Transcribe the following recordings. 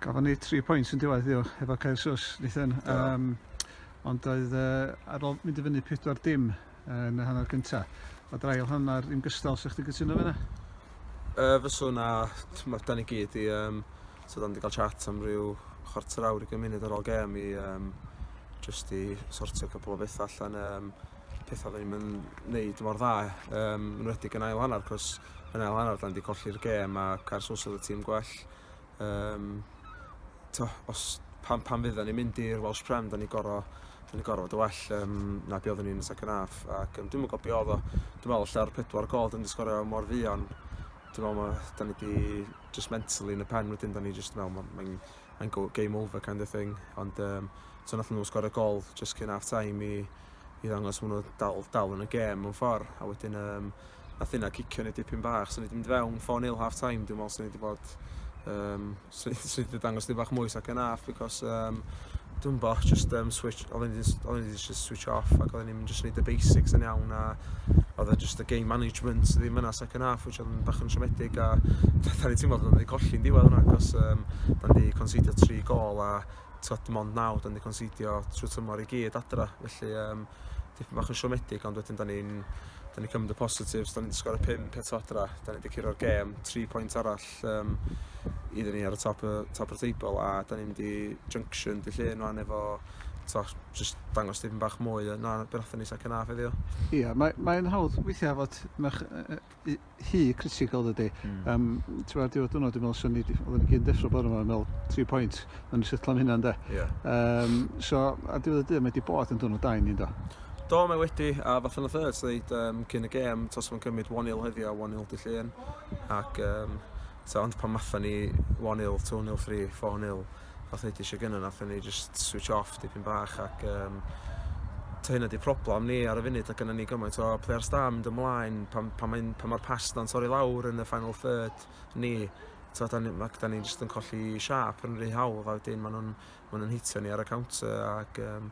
Gafon ni tri pwynt yn diwedd yw efo Caersos, Nathan. Um, ond oedd uh, ar ôl mynd i fyny 4 dim yn y hanner gyntaf. Mae drail hanner yn gystal, sa'ch ti'n gytuno fe na? Uh, fyswn a, mae dan i gyd i, um, so dan wedi cael chat am ryw chwarter awr i gymuned ar ôl gem i um, just i sortio cwpl o bethau allan um, pethau fe ni'n mynd wneud mor dda um, yn wedi yn ail hanner cos yn ail hanner da ni wedi colli'r gêm ac ar sws oedd y tîm gwell. Um, to, os, pan, pan fydda ni'n mynd i'r Welsh Prem, da ni gorau da ni gorau fod y well um, na be oedden ni'n y second half ac um, dwi'n mwyn gobio oedd o dwi'n meddwl lle'r pedwar gol dwi'n disgorio mor fuan dwi'n meddwl ma, da ni di just mentally yn y pen wedyn da ni just mewn mae'n mae, mae go, game over kind of thing ond um, so nath nhw sgorio gol just cyn half time i, i ddangos maen nhw dal, dal yn y gêm mewn ffordd a wedyn um, Nath hynna cicio ni dipyn bach. So ni 'di mynd fewn 4-0 half time. Dwi'n meddwl sy'n ni 'di bod... Um, sy'n ni 'di dangos dipyn bach mwy sac yn half because... Um, dwi'n bo, just um, switch, oedden ni wedi just switch off ac oedden ni'n just neud y basics yn iawn a oedd e just y game management sydd ddim yna second half which oedd yn bach yn siomedig a da ni teimlo bod wedi colli'n diwedd hwnna cos um, da ni wedi considio tri gol a tibod, dim ond naw, da ni wedi conceidio trwy tymor i gyd adra, felly um, dipyn bach yn siomedig, ond wedyn da ni'n da ni cymryd y positives, da ni wedi sgor y pum eto adra, da ni wedi curo'r gêm, tri pwynt arall um, iddyn ni ar y top, top o'r teibl, a da ni'n mynd i Junction dy llun rwan efo to, just dangos dipyn bach mwy na beth ni sa'n cynnaf heddiw. Ie, yeah, mae'n mae hawdd weithiau fod rhy critical dydy. Mm. Um, ti'n fath diwedd diwrnod, dwi'n meddwl, sy'n ni, oedden ni gyd deffro bod yma, yn meddwl, tri pwynt, yn ni sytlo am hynna, ynddo. Yeah. Um, so, a diwedd y dydd, mae wedi bod yn dwrnod da i ni, ynddo. Do, mae wedi, a fath o'n third, dweud, um, cyn y gêm, tos fo'n cymryd 1-0 heddiw a 1-0 dy llun, ac, um, so, ond pan matha ni 1-0, 2-0, 3, 4-0, fath o'n i 'di eisiau gynnau nathon ni just switch off dipyn bach ac um, ta hynna di problem ni ar y funud ac yna ni gymaint o players da mynd ymlaen pan, pan, mae'n, pan mae'r pass na'n torri lawr yn y final third ni so da ni, ma, da ni just yn colli siap yn rhy hawdd a wedyn maen nhw'n ma nhw hitio ni ar y counter ac um,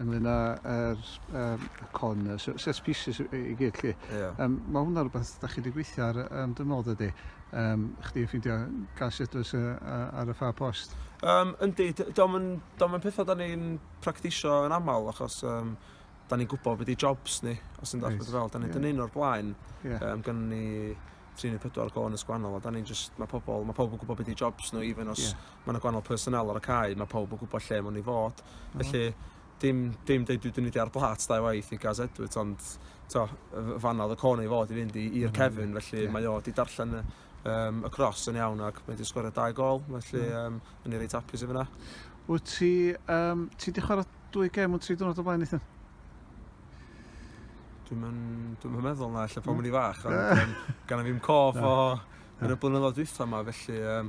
ynglyn â yr um, con, y set species i gyd chi. Yeah. Um, mae hwnna rhywbeth da chi wedi gweithio ar um, dy nod ydy. Um, chdi yn ffeindio gas edrys uh, ar y ffa post. Um, yndi, dom yn, dom yn pethau da ni'n practisio yn aml achos um, da ni'n gwybod beth i jobs ni, os yn dweud fel. Da ni'n yeah. dynnu o'r blaen, yeah. um, gan ni 3 neu 4 gôn yn sgwannol, a da ni'n just, mae pobl, mae pobl yn gwybod beth i jobs nhw, even os yeah. ma' 'na gwanol personnel ar y cae, ma' pawb yn gwybod lle maen nhw'n ei fod. Mm. Felly, dim, dim dweud dwi wedi mynd ar blât dau waith i Gaz Edwards, ond to, fan oedd y con ei fod i fynd i'r mm. cefn, felly yeah. mae o wedi darllen y, um, y cros yn iawn ac mae wedi sgorio dau gol, felly mm. um, yn ei reit apus i fyna. Wyt ti, um, ti wedi chwarae dwy gem yn tri dwrnod o blaen eithaf? Dwi'n mynd, dwi'n mynd meddwl na, lle pan mynd i fach, ond um, gan i fi'n cof o yn y blynyddoedd dwytha yma, felly um,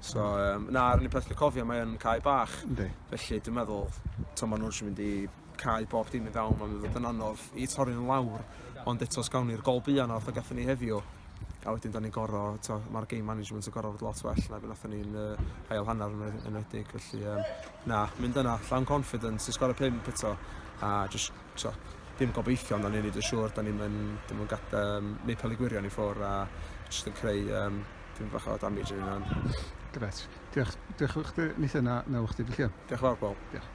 So um, na, yr unig peth dwi'n cofio, mae yn cae bach. Yndi. Felly dwi'n meddwl, to maen nhw'n mynd i cae bob dim i fewn, mae'n fod yn anodd i torri'n lawr. Ond eto, os gawn ni'r gol bia na, fatha gatho ni heddiw, a wedyn da ni'n goro, mae'r game management yn goro fod lot well na beth nathon ni'n uh, hael hanner yn enwedig. Felly, um, na, mynd yna, llawn confidence, i sgoro pimp eto, a just So, dim gobeithio, ond da ni'n neud yn siŵr, da ni'n mynd, da ni'n gad, um, neud peli gwirion i ffwr a jyst yn creu um, dim bach o damage yn hynna'n. Gret. Diolch, diolch o'ch di, nith yna, na o'ch di, Diolch yn fawr, Paul. Diolch.